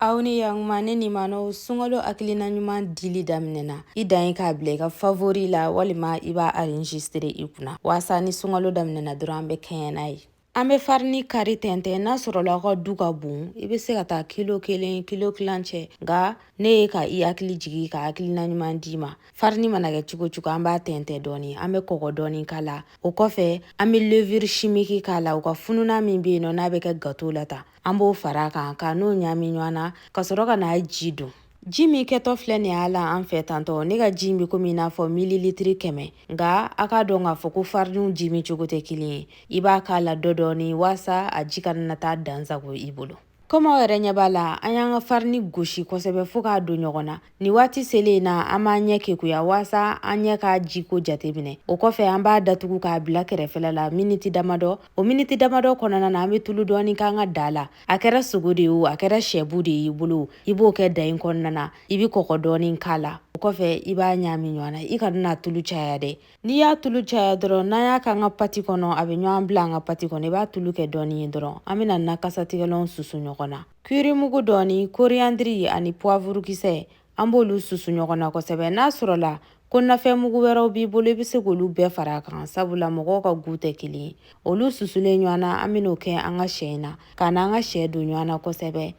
aw ni yakuma ne ni manɔw sunkalo hakilina ɲuman dili daminɛna i dan ye k'a bila i ka favori la walima i b'a arinjistere i kunna waasa ni sunkalo daminɛna dɔrɔn an bɛ kɛɲɛ n'a ye an bɛ farini kari tɛntɛn n'a sɔrɔla aw ka du ka bon i bɛ se ka taa kilo kelen kilo tilancɛ nka ne ye ka i hakili jigi ka hakilina ɲuman d'i ma farini mana kɛ cogo cogo an b'a tɛntɛn dɔɔni an bɛ kɔgɔ dɔɔni k'a la o kɔfɛ an bɛ levure chimique k'a la u ka fununan min bɛ yen nɔ n'a bɛ kɛ gato la tan an b'o fara kan ka n'o ɲami ɲɔgɔn na ka sɔrɔ ka n'a ji don ji min kɛtɔ filɛ nin y'a la an fɛ tantɔ ne ka ji in bɛ komi i n'a fɔ mililitiri kɛmɛ nka a k'a dɔn k'a fɔ ko fariniw ji min cogo tɛ kelen ye i b'a k'a la dɔ dɔɔni waasa a ji kana na taa dansago i bolo komi aw yɛrɛ ɲɛ b'a la an y'an ka farini gosi kosɛbɛ fo k'a don ɲɔgɔn na Nin waati selen in na an b'an ɲɛ kekuya waasa an ɲɛ k'a jiko jateminɛ o kɔfɛ an b'a datugu k'a bila kɛrɛfɛla la miniti damadɔ o miniti damadɔ kɔnɔna na an bɛ tulu dɔɔni k'an ka da la a kɛra sogo de ye o a kɛra sɛbu de y'i bolo i b'o kɛ da in kɔnɔna na i bɛ kɔgɔ dɔɔni k'a la o kɔfɛ i b'a ɲaami ɲɔgɔn na i kana na tulu caya dɛ n'i y'a tulu caya dɔrɔn n'an y'a k'an ka pati kɔnɔ a bɛ ɲɔgɔn bila an ka pati kɔnɔ i b'a tulu kɛ dɔɔni ye dɔrɔn an bɛna na kasatigɛlanw susu ɲɔgɔn na Kirimugu dɔɔni, koriyandiri ani puwavurukisɛ, an b'olu susu ɲɔgɔn na kosɛbɛ. N'a sɔrɔla ko nafɛnmugu wɛrɛw b'i bolo, i bɛ se k'olu bɛɛ fara a kan, sabula mɔgɔw ka gu tɛ kelen ye. Olu susulen ɲɔgɔn na, an bɛn'o kɛ an ka sɛ in na, ka na an ka sɛ don ɲɔgɔn na kosɛbɛ.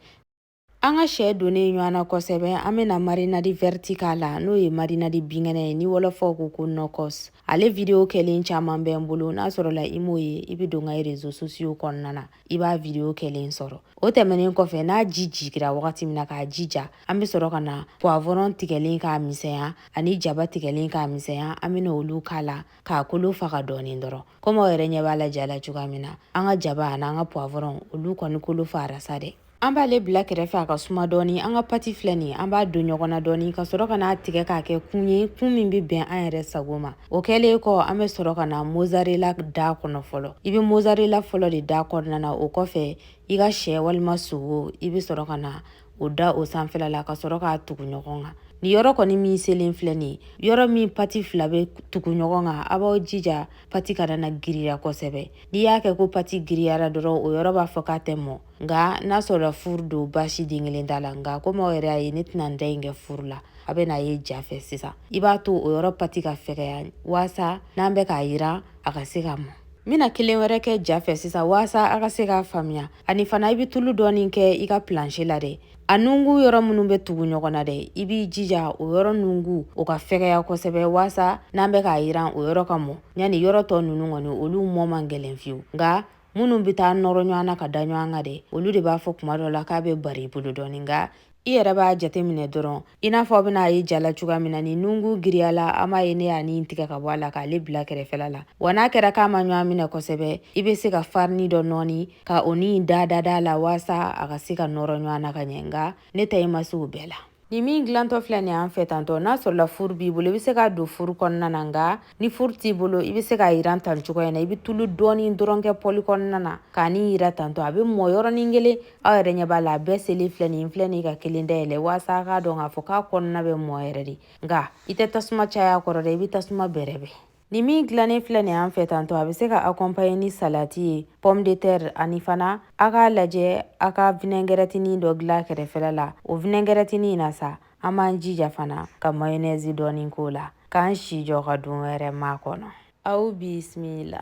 An ka sɛ donnen ɲɔgɔn na kosɛbɛ, an bɛna marinadi vɛriti k'a la, n'o ye marinadi binkɛnɛ ye, ni wɔlɔfɔw ko ko nɔkɔs. ale video kɛlen caman bɛ n bolo n'a sɔrɔla i m'o ye i bɛ don n ka rezo sosiyo kɔnɔna na i b'a video kɛlen sɔrɔ o tɛmɛnen kɔfɛ n'a ji jigira wagati min na k'a ji ja an bɛ sɔrɔ ka na poivron tigɛlen k'a misɛnya ani jaba tigɛlen k'a misɛnya an bɛna olu k'a la k'a kolo faga dɔɔnin dɔrɔn komi aw yɛrɛ ɲɛ b'a la ja la cogoya min na an ka jaba an'an ka poivron olu kɔni kolo fagara sa dɛ an b'ale bila kɛrɛfɛ a ka suma dɔɔni an ka pati filɛ nin an b'a don ɲɔgɔn na dɔɔni ka sɔrɔ ka n'a tigɛ k'a kɛ kun ye kun min bɛ bɛn an yɛrɛ sago ma o kɛlen kɔ an bɛ sɔrɔ ka na mozarela da kɔnɔ fɔlɔ i bɛ mozarela fɔlɔ de da kɔnɔna na o kɔfɛ i ka sɛ walima sogo i bɛ sɔrɔ ka na o da o sanfɛla la ka sɔrɔ k'a tugu ɲɔgɔn kan nin yɔrɔ kɔni min selen filɛ nin yɔrɔ min pati fila bɛ tugu ɲɔgɔn kan a b'aw jija pati kana na giriya kosɛbɛ n'i y'a kɛ ko pati giriyara dɔrɔn o yɔrɔ b'a fɔ k'a tɛ mɔ nka n'a sɔrɔla furu don baasi den kelen t'a la nka komi aw yɛrɛ y'a ye ne tɛna n ta in kɛ furu la a bɛn'a ye ja fɛ sisan i b'a to o yɔrɔ pati ka fɛgɛya waasa n'an bɛ k'a yiran a ka se ka mɔ n bɛna kelen wɛrɛ kɛ ja fɛ sisan waasa a ka se k'a faamuya ani fana i bɛ tulu dɔɔnin kɛ i ka planche la dɛ a nunkun yɔrɔ minnu bɛ tugu ɲɔgɔn na dɛ i b'i jija o yɔrɔ nunkun o ka fɛgɛya kosɛbɛ waasa n'an bɛ k'a yiran o yɔrɔ ka mɔ yanni yɔrɔ tɔ ninnu kɔni olu mɔ man gɛlɛn fiyewu nka minnu bɛ taa nɔrɔ ɲɔgɔn na ka da ɲɔgɔn kan dɛ olu de b'a fɔ kuma dɔ la k'a bɛ bari i bolo dɔɔni nka i yɛrɛ b'a jate minɛ dɔrɔn i n'a fɔ aw bɛna a ye ja la cogoya min na ni nungu giriyala an b'a ye ne y'a nin tigɛ ka bɔ a la k'ale bila kɛrɛfɛla la wa n'a kɛra k'a ma ɲɔgɔn minɛ kosɛbɛ i bɛ se ka farini dɔ nɔɔni ka o ni da dada la waasa a ka se ka nɔrɔ ɲɔgɔn na ka ɲɛ nka ne ta in ma se o bɛɛ la nin min dilantɔ filɛ nin an fɛ tantɔ n'a sɔrɔla furu b'i bolo i bɛ se k'a don furu kɔnɔna na nka ni furu t'i bolo i bɛ se k'a yiran tan cogoya in na i bɛ tulu dɔɔnin dɔrɔn kɛ pɔli kɔnɔna na k'a nin yiran tantɔ a bɛ mɔ yɔrɔnin kelen aw yɛrɛ ɲɛ b'a la a bɛɛ selen filɛ nin filɛ nin ka kelen dayɛlɛ waasa a k'a dɔn k'a fɔ k'a kɔnɔna bɛ mɔ yɛrɛ de nka i tɛ tasuma caya a kɔrɔ dɛ i bɛ tasuma bɛrɛbɛn Nin min dilannen filɛ nin an fɛ tantɔ a bɛ se ka akɔnpaɲe ni salati ye pomme de terre ani fana a k'a lajɛ a ka vinɛgɛrɛtinin dɔ dilan kɛrɛfɛla la o vinɛgɛrɛtinin in na sa an b'an jija fana ka mayonɛzi dɔɔni k'o la k'an sen jɔ ka don wɛrɛ makɔnɔ aw bisimila